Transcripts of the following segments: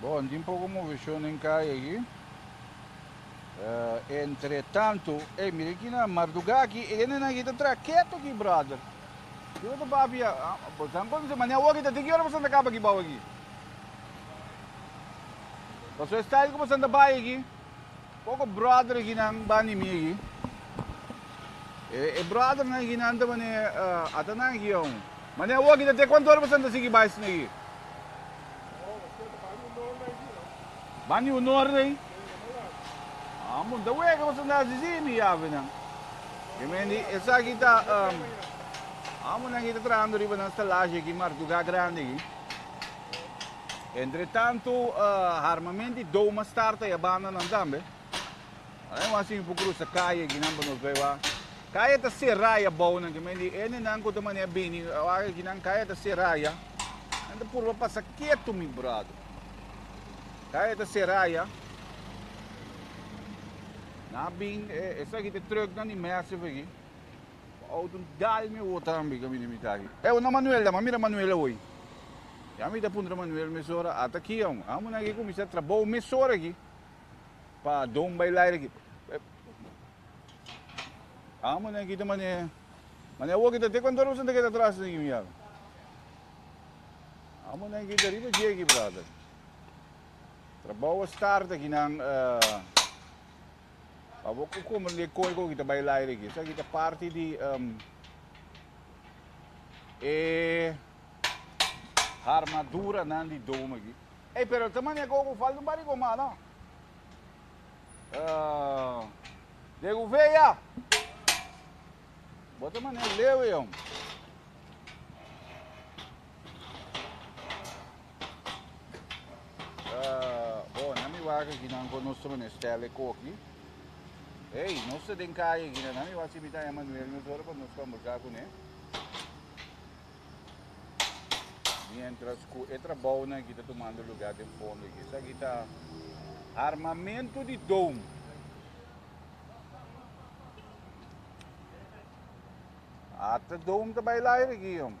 Bon, tin poco movicion den calle aquí. Uh, entre tanto, hey, mira aquí na Marduga aquí, e gente aquí está tra quieto aquí, brother. Yo te papi, pues han con mañana hoy está tiki hora para Santa Capa aquí, bau aquí. Pasó style como Santa Bay aquí. Poko bròder ginan bani mi egi. E bròdernan ginan ta man'e, Ata nan gion. Mane awoki ta te kuantu ora boso a ta sigui bai asina egi? Bani un ora ei? An punta, Wega boso a hasi si, mi yavenan? Yo mendi, Esaki ta, Amo nan ki ta trahando riba nan stalashi aki, Martugá Grandi aki. Entretantu harmament di Doma Star ta ya banda nan tambe. Ahora mi wan sibi por cruza calle akinan pa nos bay wak. Calle ta cera ya bou nan kimen di ene nan cu ta mania bini wak akinan calle ta cera ya. Nan ta purba pasa ketu mi brother. Calle ta cera ya. Nan a bin esaki ta trucknan di Massive aki. Ouden dal mi wota tambe ka mi di mita aki. E una Manuel dam, a mira Manuel awoy. Ya mi ta puntra Manuel mesora, a ta aki aun. Amo nan ke kuminsá trabou mesora aki pa Don Bailaire aki. Amo nan kita mane, mane awor kita te kantor kusnan ta keda atrás nan kimi yaga. Amo nan kita riba dje aki brother. Trabou a start aki nan. Pa bo cu comer e coy cu kita bay laire aquí. Esa kita parte di um, e armadura nan di dome aquí. Hey, pero esta manera que ogo falta un par de coma, no? Uh, de Gouveia. Bota manera lewe, hombre. Bon, nan mi wak aki, nan con nuestro menestel e coki. Hey, nos te den calle aquí, nan mi wak si mi ta Emmanuel nos ora pa nos conversa con e. Mientras cu e trabajo na aquí ta tomando lugar den fondo aquí. Sa aquí ta armamento di dome. Ata dome ta bailar aquí, hombre.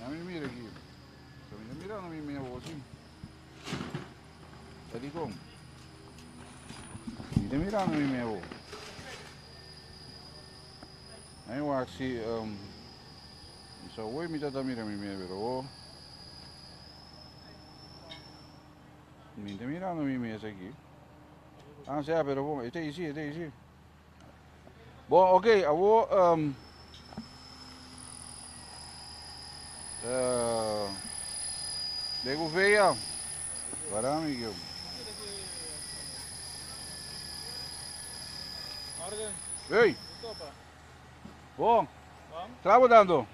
Ya mi mira aquí. So mi mira no mi mira vos sí. Ya di con. Mi mira no mi mira vos. Aí eu acho que um, só oi me tata mira mi mira vos. Mi mira no mi mira aqui. Ah, se pero bom, este aí sim, este aí sim. Bo ok awor um, uh, de Gouveia, para amigo. Orden. Hey. Bon. Tra bo dando.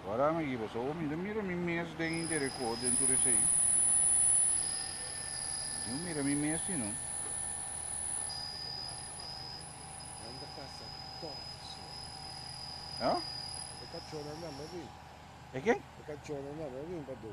Wara mi giba so mi do mira mi mes den intere ko den tur esei. Yo mira mi mes si no. Anda pasa todos. Ja? E cachorro anda me rin. E ken? E cachorro anda me rin pa do.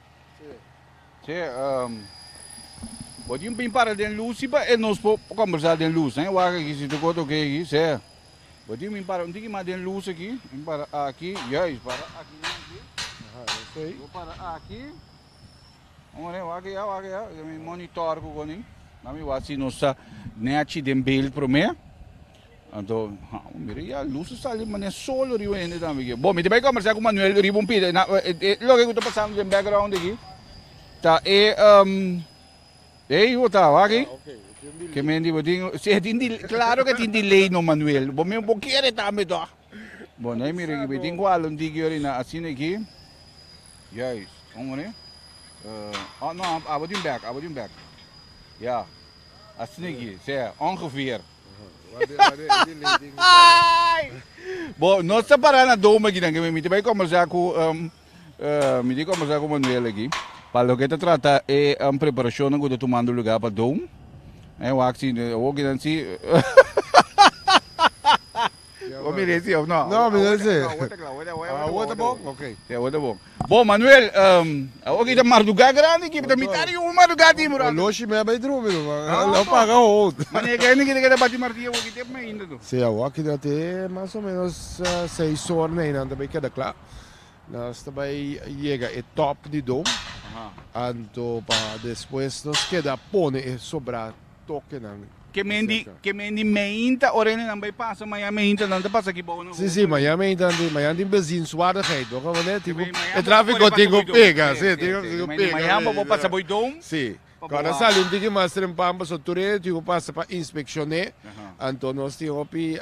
Che, bo tin bin para den lus si pa e nos por kòmbersá den lus. Nan e wak aki si tu koto ke aki, se. Bo tin bin para un tiki mas den lus aki, tin para aki, juis para aki nan aki. Bo para aki, ora e wak eya, wak eya, mi monitòr ku konin, nan mi wak si nos ta nèchi den beild promé. Anto, amo mira ya lus a sali mane solo riba hende tambe aki. Bo, mi ta bai kombersá ku Manuel riba un pita. Na, e loke ku ta pasando den background aki ta e, um, e hijo tao aki ke men riba tin, si e tin delay, klaro ke tin delay no Manuel, bo mismo bo kere tambe tò. Bo na e mira aki, bo e tin ku hala un tiki ora i na asina aki, juist, un ora, uh, oh no, abo tin back, abo tin back, ya, asina aki, sea, ongeveer. Bo nos ta para na Dome aki nan ke mi ta bai kombersá ku mi tin kombersá ku Manuel aki pa loke ta trata e preparashonnan ku ta tumando lugá pa Dome. Wak si awor kinan si. Bo mira esi of no? No, mi no a esi. Awor ta clau, awor ta bon? Ok. Ya awor ta bon. Bo Manuel, awor aki ta marduga grandi aki, ta mitad di unu marduga timber aki. Oloshi mi a bay drumi no, lo a paga hout. Mane ke hende ki ta keda bati martillo awor aki te p'me hinda no? Si, awor aki ta te mas o menos seis ora na eynan ta bay keda cla. Nos ta bay yega e top di dom, anto pa despues nos keda pone e sobra. tokenan. Ke menti ke menti meinta ora enenan bai pasa maya meinta nan ta pasa aki bou nan. Si si maya meinta nan tin maya tin bezienswaardigheid bo kaba manera tin e trafiko tin ku pega si tin ku pega meinta maya bo bo pasa boi doum si kora sali un tiki mas trempan paso tur e tin ku pasa pa inspekshoné anto nos tin hopi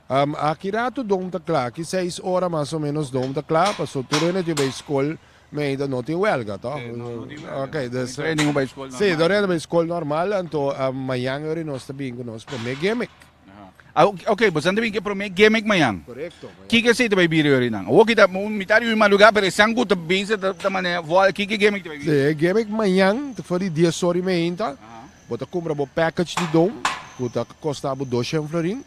Aki ratu Don ta kla, aki seis ora mas o menos Don ta kla, paso tur hende tin bay skol, mi ainda no tin welga toh. Sí, no, no tin welga. Ok, Bay dus, tres nin bay skol normal. sí, tur hende bay skol normal, anto mayan yori nos ta bin ku nos prome gimmick. Aha. Ok, bosan ta bin ku e prome gimmick mayan. Korekto, mayan. Kiko esei ta bay bira yori nan? Awoki ta mitad di hui maduga, pero esan ku ta bisa ta manera, kiko e gimmick ta bay bira? Sí, e gimmick mayan ta for di dies ora y meinta, Bo ta cumpra bo package di don cu ta costa bo doshen florin,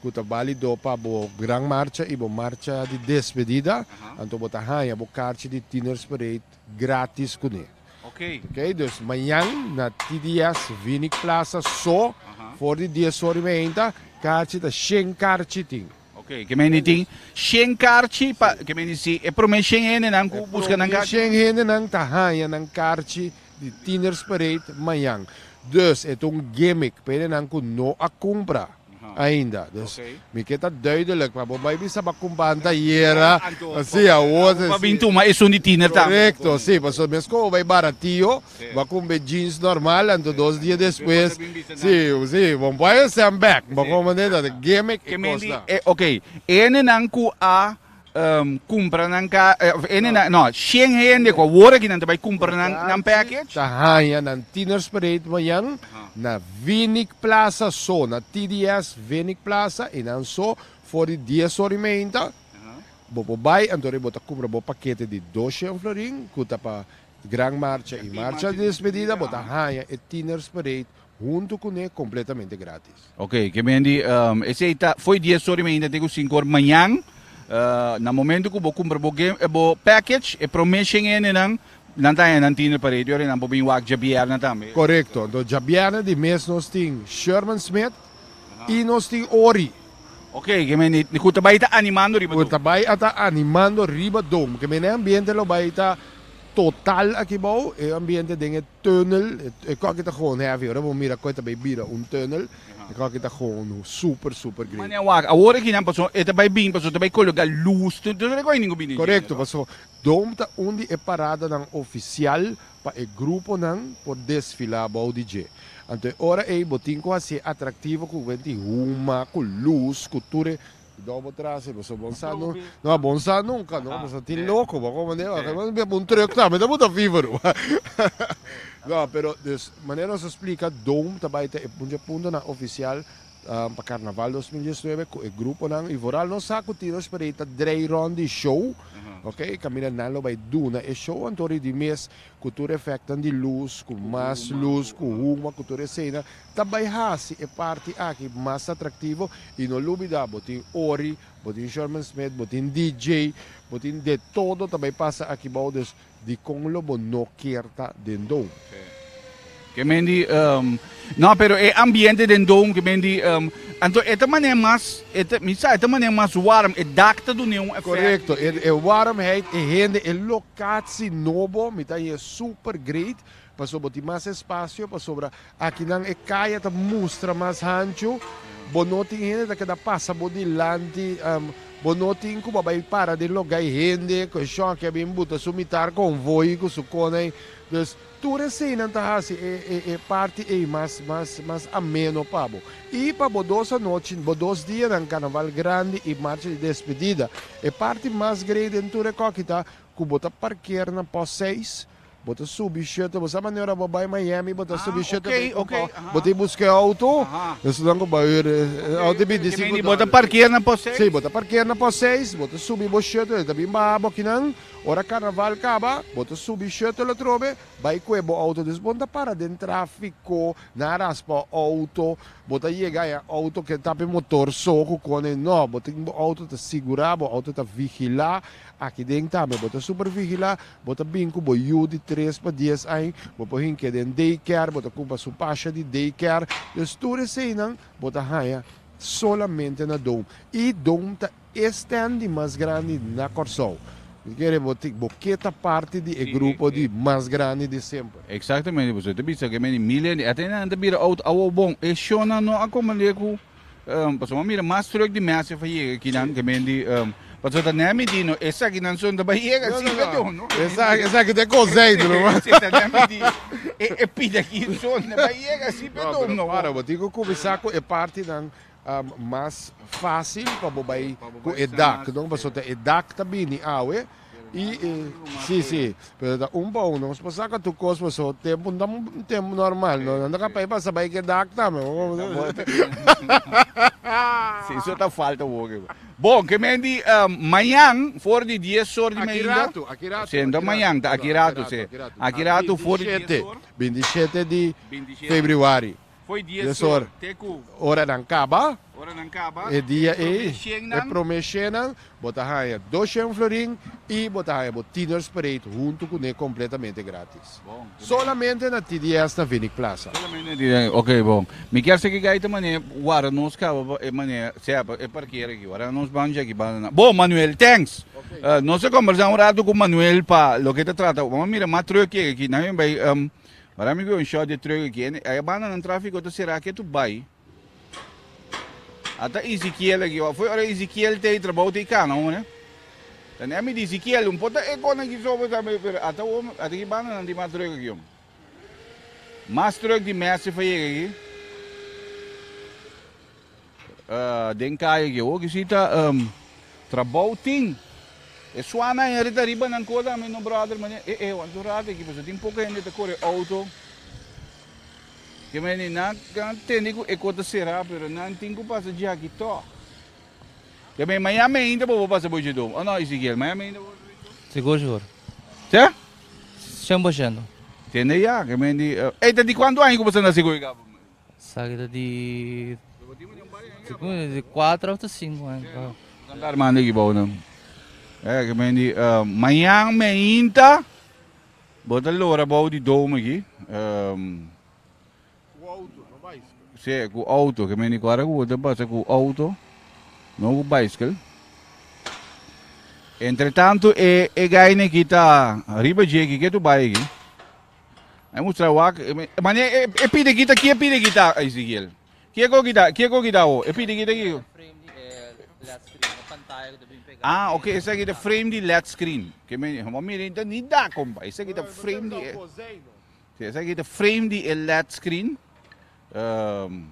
cu ta balido pa bo gran marcha y bo marcha di despedida, anto bo ta haya bo carchi di Tieners Parade gratis cu ne. Okay. Okay, dus mañan na TDS Vinik Plaza so for di dies ora y mainta, carchi ta shen carchi tin. Ok, ke meni tin shen karchi pa, ke meni si e prome shen hendenan ku buska nan karchi? E prome shen hendenan ta haña nan karchi di Tienersparade mañan. Dus e ta un gimmick pa hendenan ku no a kumpra ainda. Dus mi ke ta duidelik pa bo bai bisa bo a kumpra anteayera. Si, awor. Bo a bin tuma esun di Tiener tambe. Korekto, si, pasobra mesku awor bai baratio. Bo a kumbe jeans normal, anto dos dia despues, si, si, bo bo a hesté an bek, bo komo mende ta de gimmick i kosnan. E, ok, hendenan ku a kumpra nan ka, òf hendenan, no, shen hende ku awor aki nan ta bai kumpra nan, nan package? Ta haña nan Tienersparade mañan na Vinik Plaza so, na TDS Vinik Plaza i nan so for di dies ora i meinta bo por bai anto bo ta kumpra bo pakete di dos shen florin ku ta pa Gran marcha i marcha di despedida bo ta haña e Tieners Parade huntu kuné kompletamente grátis. Ok, ke men di esei ta fo'i dies ora i men hinda te ku sinku ora mañan. Na momentu ku bo kumpra bo bo package e promé shen hendenan nan ta haña nan Tieners Parade i ora nan por bin wak djabièrnè tambe. Korekto, anto djabièrnè di mes nos tin Sherman Smith y nos tin ori. Ok, ke mene ku ta bai ta animando riba dom. Ku ta bai a ta animando riba dom. Ke mene ambiente lo bai ta total aki bou, e ambiente den e tunnel, e kos aki ta gewoon heavy, ora bo mira koe ta bai bira un tunnel, e kos aki ta gewoon super, super great. Mane a wak, awor aki nan paso e ta bai bin, paso ta bai kologa lus, tu ta rekohe ningu bini. Korekto, paso dom ta un di e paradanan ofisial pa e gruponan por desfilá bou di dje. Anto e ora ei bo tin ku hasi e atraktivo ku kuenta di huma, ku lus, ku tur e. Kidau bo trase bo so bon sa nun. No a bon sa nunka no, bo sa tin loko bo kon mande bo a biba un truk tambe ta buta fiveru. No, pero, dus, manera nos a splika, Dome ta bai ta e munchi puntonan ofisial Pa Carnaval dos mil diesnuebe cu e gruponan y vooral nos sa cu tin nos por a ta drei rond di show, ok, y caminda nan lo bay duna e show anto ri di mes cu tur efectnan di luz, cu mas luz, cu huma, cu tur esena ta bay haci e parti aki mas atractivo y no lubida bo tin Ori, bo tin Sherman Smith, bo tin DJ, bo tin de todo ta bay pasa aki bao, dus Dikon lo bo no kier ta den doom? Ke men di, ehm, No, pero e ambiente den doom, ke men di, ehm, Anto e ta manera mas, e ta, mi sa, e ta manera mas warm, e dak ta dun'é un effect. Correcto, e, e warmheid, e hende, e locatie nobo, mi ta hier super great, pasobra bo tin mas espacio, pasobra Akinan e kaya ta mustra mas hanchu, bo no tin hende ta keda pasa bo dilanti, bo no tin ku bo a bai para den loga e hende, ku e shòki a bin buta su mitar konvoi ku su konai. Dus, tur eseinan ta hasi e parti ei mas mas mas ameno pa bo. I pa bo dos anochi, bo dos dianan, Karnaval Grandi i Marcha di Despedida, e parti mas grei den tur e kòki ta ku bo ta parker na pòst seis, Bo ta subi shuttle, bo sa mane ora bo bai Miami bo ta subi shuttle bay Compound, bo tin bus ke auto, esnan ku bai ora e auto ta binti sinku dòler. Bo ta parkea na pos seis? Si, bo ta parkea na pos seis, bo ta subi bo shuttle, e ta bin baha bo akinan, ora karnaval kaba bo ta subi shuttle atrobe bai kue bo auto, dus bo ta para den trafiko, nan raspa auto, bo ta yega e auto ke ta ape motor so ku kone no, bo tin bo auto ta sigura, bo auto ta vigila, aki den tambe bo ta super vigila. Bo ta bin ku bo yu di tres pa dies añ, bo por hinke den daycare, bo ta kumpa su pasha di daycare. Des tur eseinan bo ta haña solamente na dom. I dom ta e stand di mas grandi na Kòrsou. Bo kere bo tin, bo ke ta parti di e grupo di mas grandi di semper. Exactamente, pasobra ta bisa ku e men di Milia, ate nan ta bira out awou bon. E shownan no a komprende ku Pasobra bo mira mas tròk di mèse a yega aki nan ke men di pasobra ta nèm i di no esaki nan son ta bai yega asi perdon no esaki ta e koseitu nomas ta nèm i di e pita aki son ta bai yega asi perdon no pero bo tin ku kuminsá ku e partinan mas fásil pa bo bai ku e dak pasobra e dak ta bini awe I e si si, pero ta un pa un, nos por saka tur cos pa so tempo, no ta un tempo normal no, nan ta kapay pa sa bay ke dak tambe. Si eso ta falta woke bo. Bo, ke men di mañan for di dies or di media. Aki ratu, aki ratu. Si enton mañan ta aki ratu si. Aki ratu for di dies or. Bintishete, bintishete di februari. Dies or, oranan kaba e dia ei, e promé shennan, bo ta haña dos shen florin i bo ta haña bo Tienersparade huntu kuné kompletamente grátis. Solamente na TDS ta Vinik Plaza. Ok, bon. Mi kier sa kiko ei ta manera wara nos kaba pa e manera sea pa e parkera aki wara nos ban dje aki ban nan. Bon, Manuel, thanks. Nos ta kombersá un ratu ku Manuel pa loke ta trata. Bo a mira mas tròk yega aki. Nan a bai. But ami wou un short de trug aki en e banda nan trafico ta cera aki tu bay ata Ezekiel aki wou foi ora Ezekiel tey trabou tey cana wou ne ta ne ami di Ezekiel un pota e cona aki so pero ata wou ata ki banda nan tin mas trug aki hombre mas trug di Massive a yega aki. Den kaya ke oki sita trabou tin. E suana e rita riba nan kos ami no brother mane e e wan su rat aki pasobra tin poco hende ta kore auto ke mane nan kan tende ku e kos ta sera pero nan tin ku pasa dje aki tog. Ke mane Miami ainda bo bo pasa bo dje dom o no Ezekiel Miami ainda bo bo pasa bo dje dom? Segur segur. Te? Shen por shento. Tende ya ke mane e ta di kuantu aña ku bo sa na Segoe Gabo. Sa ki ta di kuater òf ta sinku anta. Kanta ta armando aki pa bo nan. Oia ki men di mañan meinta bo ta lora bou di domo aki. Ku outo no baiskel. Si ku outo ki men di ku ora ku bo ta pasa ku outo no ku baiskel. Entretantu e gaini aki ta riba dje aki ke tu bai aki. Ai mustra wak, mane e pide gita, kie pide gita Ezekiel? Kie ko gita, kie ko gita ho? E pide gita ki. Ah, ok, esa gita frame di LED screen. Ke me, mo mire inta ni da kompa. Esa gita frame di. Si, esa gita frame di e LED screen. Um,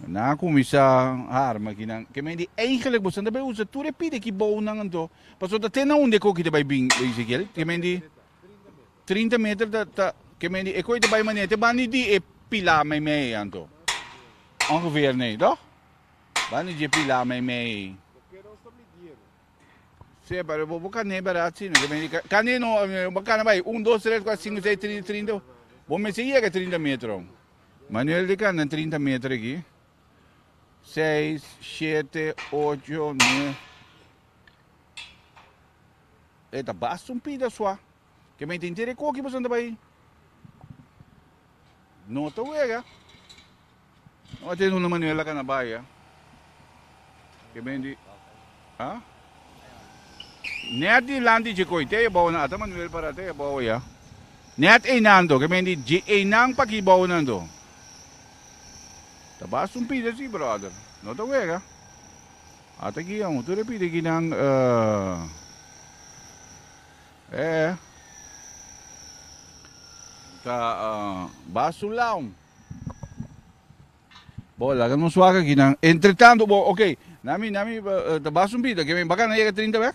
na kumisa arma ki nan. Ke me di eigenlijk bosan da be usa tur e pide ki bou nan anto. Paso ta tena unde ko gita bai bin Ezekiel. Ke me di. Trinta meter ta ta ke men di e koi ta bai manera te bani di e pilá meimei ei anto. Ongeveer nei toch? Bani di e pilá meimei ei. Se pero bo bo kane berat sino ke men di kane no bo kana bai un dos tres kuater sinku sei trinta trinta bo mester yega trinta metro. Manuel di kana trinta meter aki seis shete ocho nueve. E ta basta un pida sua. Ke mei ta hinti de koki boso ta bai. No ta wega. No a tene una manera laka na bai a. Ke mei di a. Net dilanti dje koi te ebou na ata Manuel para te ebou ya. Net einan do ke mei di dje einan pa ki bou nan do. Ta basta un pida si brother. No ta wega. Ata guion tur e pidi ki nan e e ta ba su laun. Bo laga nos wak aki nan. Entretanto bo ok na mi na mi ta ba su bida ke mi bakana yega trinta bek.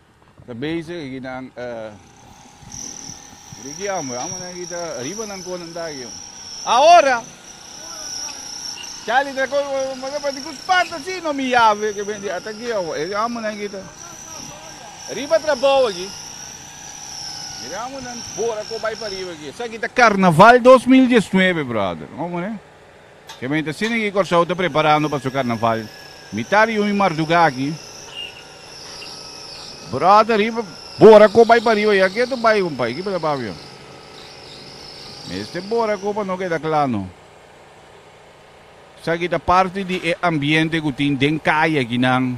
Ta bezig aki nan eh. Ricky amo, amo nan aki ta riba nan con nan ta aki oh. Ahora! Charlie traco Pero di cu spanta asi no mi yave ke ben di ata aki oh. E amo nan aki ta riba trabou aki. Mira amo nan bora cu bay pa riba aki. Esaki ta carnaval dos mil diesnuebe brother. Amo ne. Gemeente Sinigi Kòrsou ta preparando pa su karnaval. Mitá di hui mardugá aki, bròda riba bora kó bai pariba ya. Ke ta bai kumpay? Kipa ta papia? Mester bora kó pa no keda kla no. Esaki ta parti di e ambiente ku tin den kai akinan.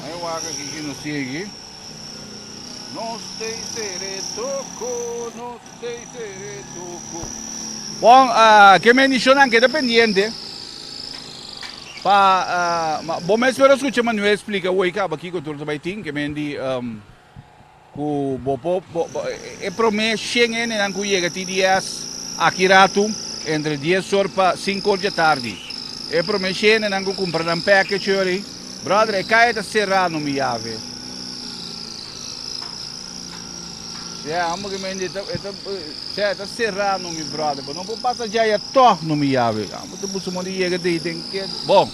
Ma e wak aki ki no sigui. Nos tey sere toko, nos tey sere toko. Bon, ke mendicionnan keda pendiente pa, ma bo mes pero scucha Manuel explica hoy caba kico tur ta bay tin, ke mendi. Ku bo por e promé shen hendenan ku yega ti dies aki ratu, entre dies or pa sinku or dje tardi. E promé shen hendenan ku kumpra nan package yori, bròder, e kaya ta será no mi yave. Sea, amo ke mende, e ta, sea, e ta será no mi bròder, bo no por pasa dje aya tòg no mi yave. Amo ta buska moda yega dei den ke. Bon,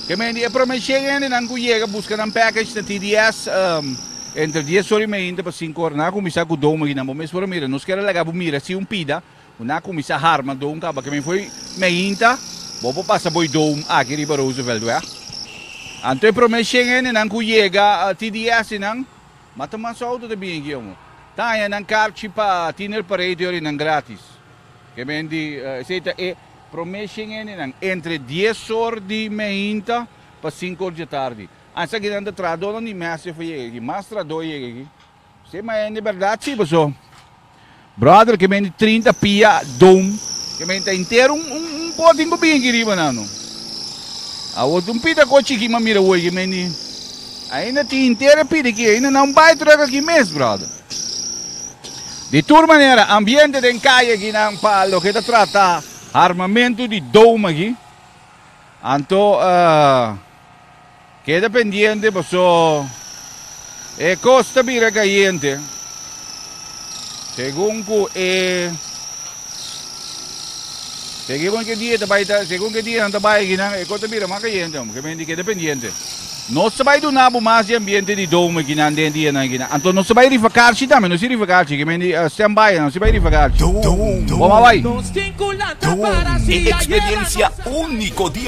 ke mende e promé shen hendenan ku yega buska nan package na ti dies. Entre dies ora y meinta pa sinku ora nan a kuminsá ku dou maginan bo mes por a mira. Nos kier a laga bo mira si un pida ku nan a kuminsá harma dou kaba kemei fo'i meinta bo por pasa bo'i dou aki riba Roosevelt wea. Anto e prome shen hendenan ku yega TDS nan ma ta mas outo ta bingi aki omo. Ta haña nan karchi pa tiner parei te orinan gratis. Kemei di esei ta e prome shen hendenan entre dies or di meinta pa sinku or dje tardi. Antes aki nan ta traha dor ni mes e fo yega aki mas traha dor yega aki si ma hende berdad si paso brother ke men di trinta pia doom ke men ta intero un un un potin bo bin aki riba nan no awor tin un pita ko chiki ma mira woy ke men di ainda tin intero e pita aki ainda nan bai truck aki mes brother di tur manera ambiente den calle aki nan pa loke ta trata armamento di doom aki anto. Keda pendiente paso e cos ta bira cayente segun cu e segun cu e dia ta bay ta segun cu e dianan ta bay akinan e cos ta bira mas cayente hombre que menti keda pendiente nos ta bay duna bo mas di ambiente di domo akinan den dianan akinan anto nos ta bay rifa carchi tambe nos si rifa carchi que menti stand by nos si bay rifa carchi bo mas bay. E experiencia unico di.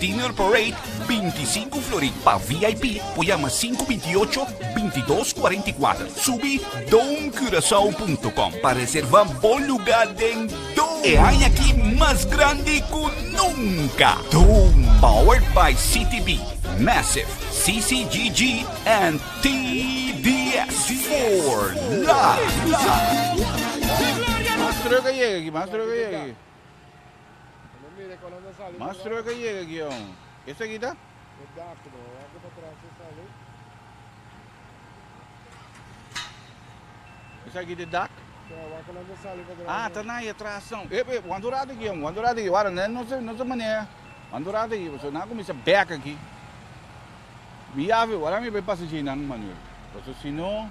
Dinner Parade binti sinku flori pa vip por yama sinku binti ocho binti dos kuarenta i kuater subi domcurasao.com pa reserva bo luga den dom e aña aki mas grandi ku nunka dom powered by CTB massive CCGG and TDS for life. Mas truck a yega aki mas truck a yega aki. Mas truck a yega aki aún. Esaki ta? Esaki ta dak? Ah, ta na atras aún. Ep, ep, wanta un rato aki aún, wanta un rato aki. Wara, nan nos a, nos a manea. Wanta un rato aki, pasobra nan a kuminsá bèk aki. Mi yafe, wara mi bai pasasheinan, Manuel, pasobra si no.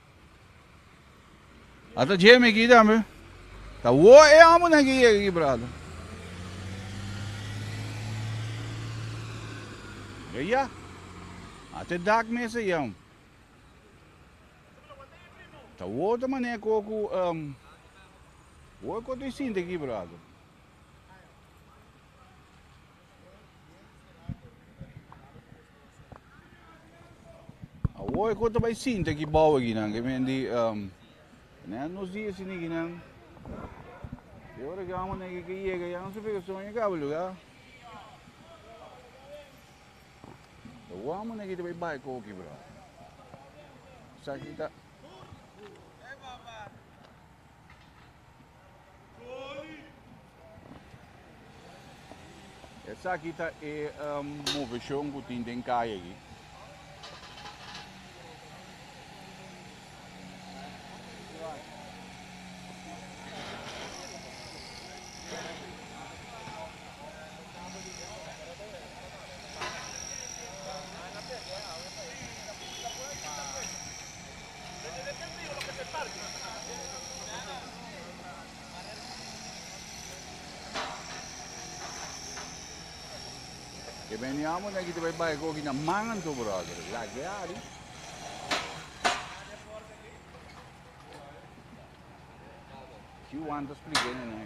Ata dje mi aki tambe. Ta wou e amunan ki yega aki brada. Be ya. Ata e dak mes a yam. Ta wou ta mane e ko ku um, wou e ko ta sinti aki brada. Awor e kos ta bai sinti aki bou aki nan, ke men di, um, nan a nos di e siniki nan, e ora ke amo neke ke yega ya anso fe ke son yega bo luga. Awor amo neke ta bai bai koki, bro. Esaki ta. Esaki ta e um, moveshon ku tin den kaya aki. E meni amo na kiti bai bai koki na mangan tu brother lag'e ari. Si wanta spliké na nan.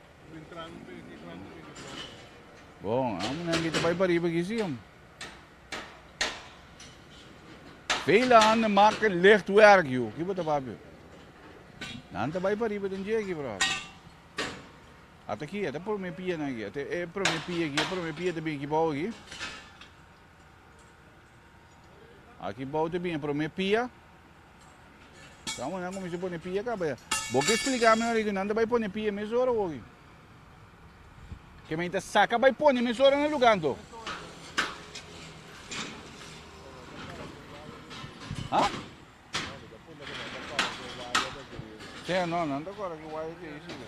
Bon, amo na invita bai pariba aquí sí, om. Vele aan de marca lichtwerk, you. Aquí bota papio. Nan ta bai pariba den je aquí, bro. Hasta aquí, hasta por me pia na aquí. Hasta e por me pia aquí, por me pia te bien aquí bau aquí. Aquí bau te bien por me pia. Sa monan a kuminsá pone pia kaba ya. Bo ke spliká mi oriku nan ta bai pone pia mes ora hogi. Ke men ta saka bai pone mes ora na lugá anto. Ha? Te no, nan ta kora ki waya te i siga.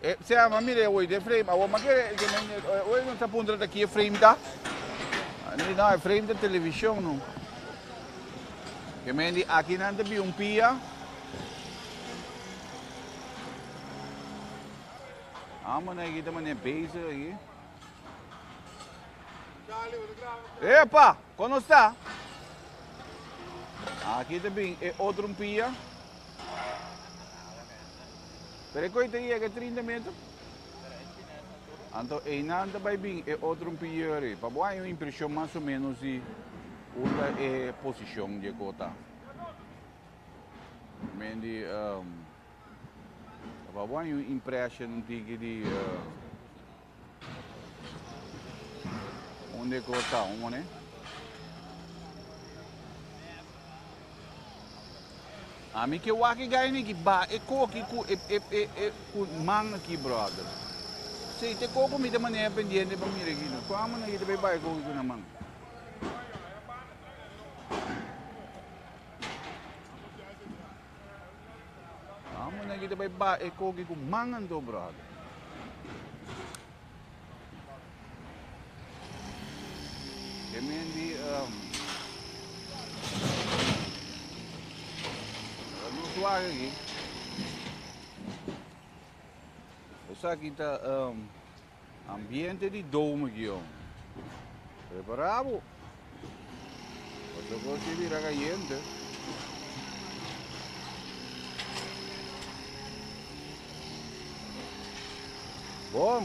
E sea, m'a mira e oide frame. Awor m'a kere e mende e oide no ta puntra ta ki e frame ta. M'a di, No, e frame ta televishon no. E mende di, Akinan ta bin un pia. Amo nan aki ta manera bezig aki. Epa! Kon nos ta? Aki ta bin e otro un pia. Pero e koi ta yega e trinta meter. Anto einan ta bai bin e otro un pieri. Pa bo hay un impresion mas o menos di un ta e posicion di e kota. Men di um, pa bo hay un impression un tiki di uh, Unde ku ta un mone? Ami ke waki gai niki ba e koki ku e e e e ku man aki brother. Si te ko ku mi ta manera pendiente pa mira aki no. Kua manera ki ta bay bay koki ku na man? Amo na kita bai ba e koki ku man anto brother. E men di um, no suave aquí. Esa kita um, Ambiente di Dome Gion. Prepará bo pa tur kos ke bira kayente. Bon!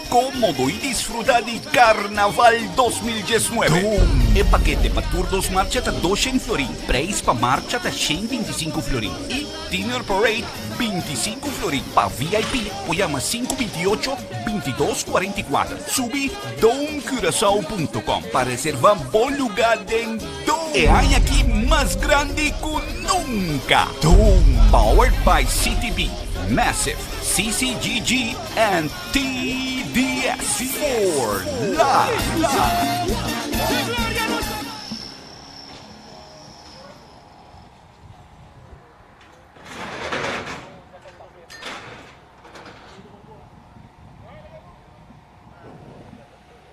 Como bo y disfruta di Carnaval dos mil diesnuebe? Dome. E pakete pa tur dos marcha ta doshen florin, prijs pa marcha ta shen binti sinku florin y Dinner Parade binti sinku florin. Pa VIP por yama sinku binti ocho binti dos cuarenta y cuater. Subi domecuracao punto com pa reserva bo luga den Dome. E aña aki mas grandi cu nunca. Dome. Powered by CTB, Massive, CCGG and TDS for life.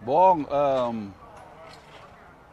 Bon, um.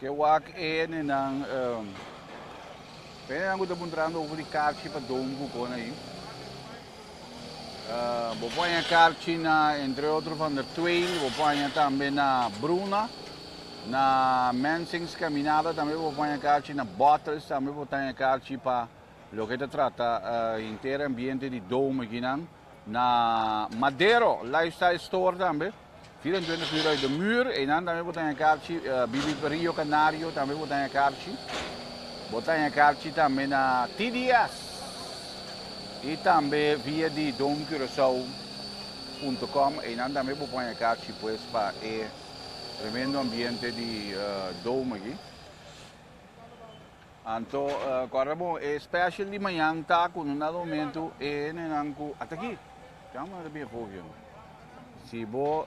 Ke wak e ni nan um, pe nan ku ta puntrando over di karchi pa don bukon ayi. Uh, bo paña karchi na, entre otro, van der Twain, bo paña tambe na Bruna, na Mensings Caminada, tambe bo paña karchi na Bottles, tambe bo paña karchi pa lo ke ta trata uh, inter ambiente di dome kinan, na Madero Lifestyle Store tambe. 24 uur uit de muur, einan tambe bo ta haña karchi, bibi pa Rio Canario tambe bo ta haña karchi, bo ta haña karchi tambe na TDS i tambe via di domcuracao punto com, einan tambe bo por haña karchi pues pa e tremendo ambiente di dom aki. Anto guarda bon, e special di mañan ta cu no na domingo e hendenan cu a ta aki, can bo na ta bin hogio no. Si bo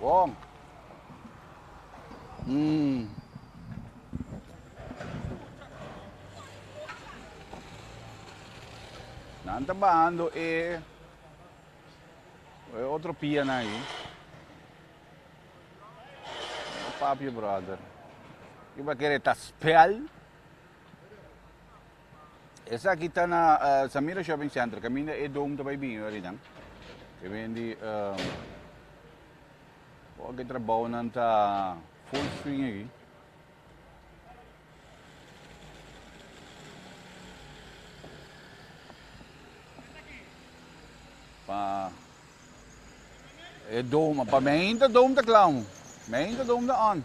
Bon. Umm. Nan ta bahando e e otro pianan ahí. No papio brother. Iba kere ta spel. Esaki ta na Samira Shopping Center, kaminda e dome ta bai bini orinan. E ben di um, hoke trabounan ta full swing aki. Pa e dome, pa meinta dome ta klamu, meinta dome ta on.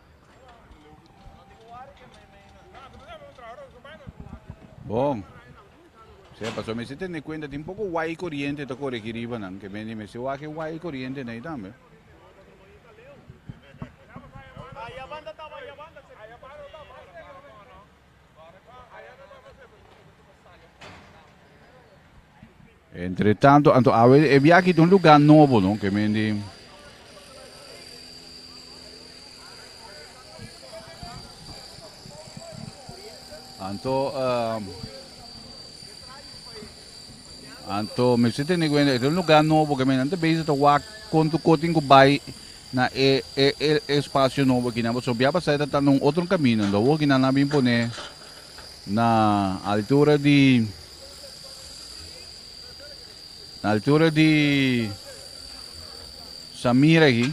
Bon. Sea, paso me si tende cuenta, tin poco guay corriente ta corre aquí riba, nan. Que me ni me si wake guay corriente na tambe. Entre tanto, anto awe e biaki ta un lugar nobo, no? Ke men di Anto uh, Anto mester tene cuenta este un lugar nobo que men ante bezig ta wak konto kotin ku bai na e e e espacio nobo kinan paso bia pasa ta tanda un otro camino do wo kinan na bin pone na altura di na altura di Samira hi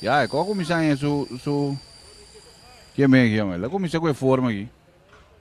ya e ko comisan e su su que men yon la comisan ku e forma hi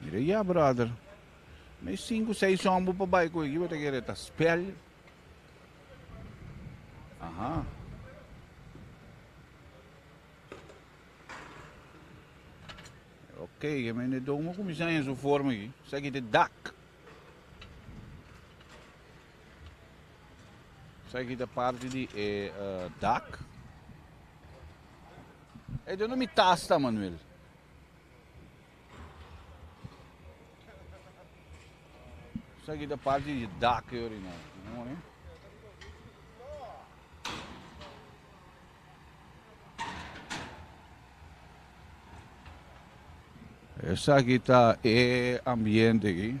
Mira ya brother. Mi sinku seis on bu pa bai ku eki bota kere ta spel. Aha. Ok, ke mi ne domo kumisa en su forma ki. Saki te dak. Saki te parte di e uh, dak. E dono mi tasta Manuel. Esaki ta parti di dak e orinar. Mooi. Esaki ta e ambiente aquí.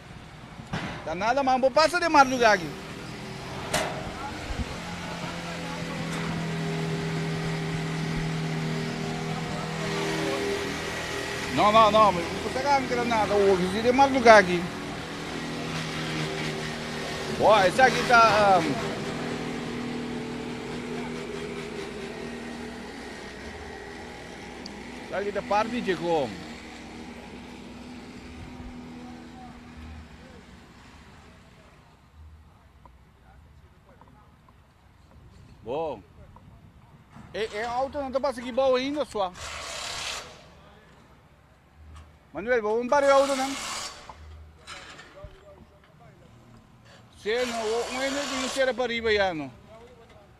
Ta nada man bo pasa den marduga aki. No no no mi por si acaso mi keda nada hoy mi di den marduga aki. Bo esaki ta um, esaki ta parte di Checom. Bon. E, e auto no ta pasa aquí bouw ainda, sua. Manuel, vamos un par de auto, nan. Sí, no, un energie no será para arriba ya, no.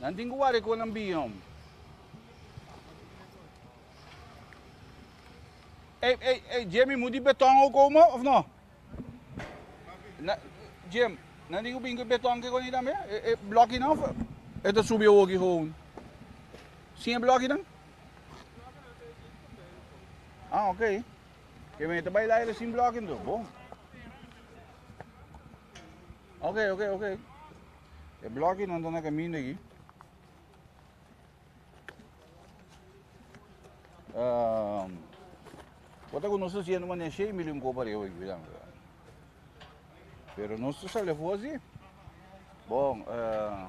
Nan tin cu wari cu nan biom. Ey, ey, ey, Jemmy, moet die beton ook komen of no? Na, Jim, na die bingo beton que con también? E, e blokje nou? Het het subie ook gewoon. Zie je blokje dan? Ah, oké. Okay. Je bent erbij leiden zien blokje door. Bon. Oké, okay, oké, okay, oké. Okay. E bloki nan ta na kaminda aki. Uh, Bota ku nos siendo mania shei milyon ko para eu ayuda. Pero nos tu sale fosi. Bon, uh,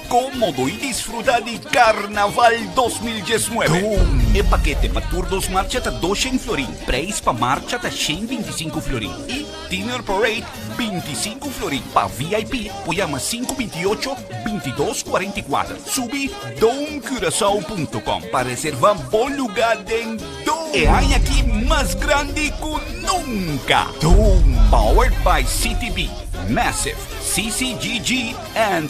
Como bo y disfruta di Carnaval dos mil diesnuebe? E pakete pa tur dos marcha ta doshen florin, prijs pa marcha ta shen binti sinku florin y Dinner Parade binti sinku florin. Pa VIP por yama sinku binti ocho binti dos cuarenta y cuater. Subi domcurasao punto com pa reserva bo luga den Dom. E aña aki mas grandi cu nunca. Dom. Powered by CTB, Massive, CCGG and.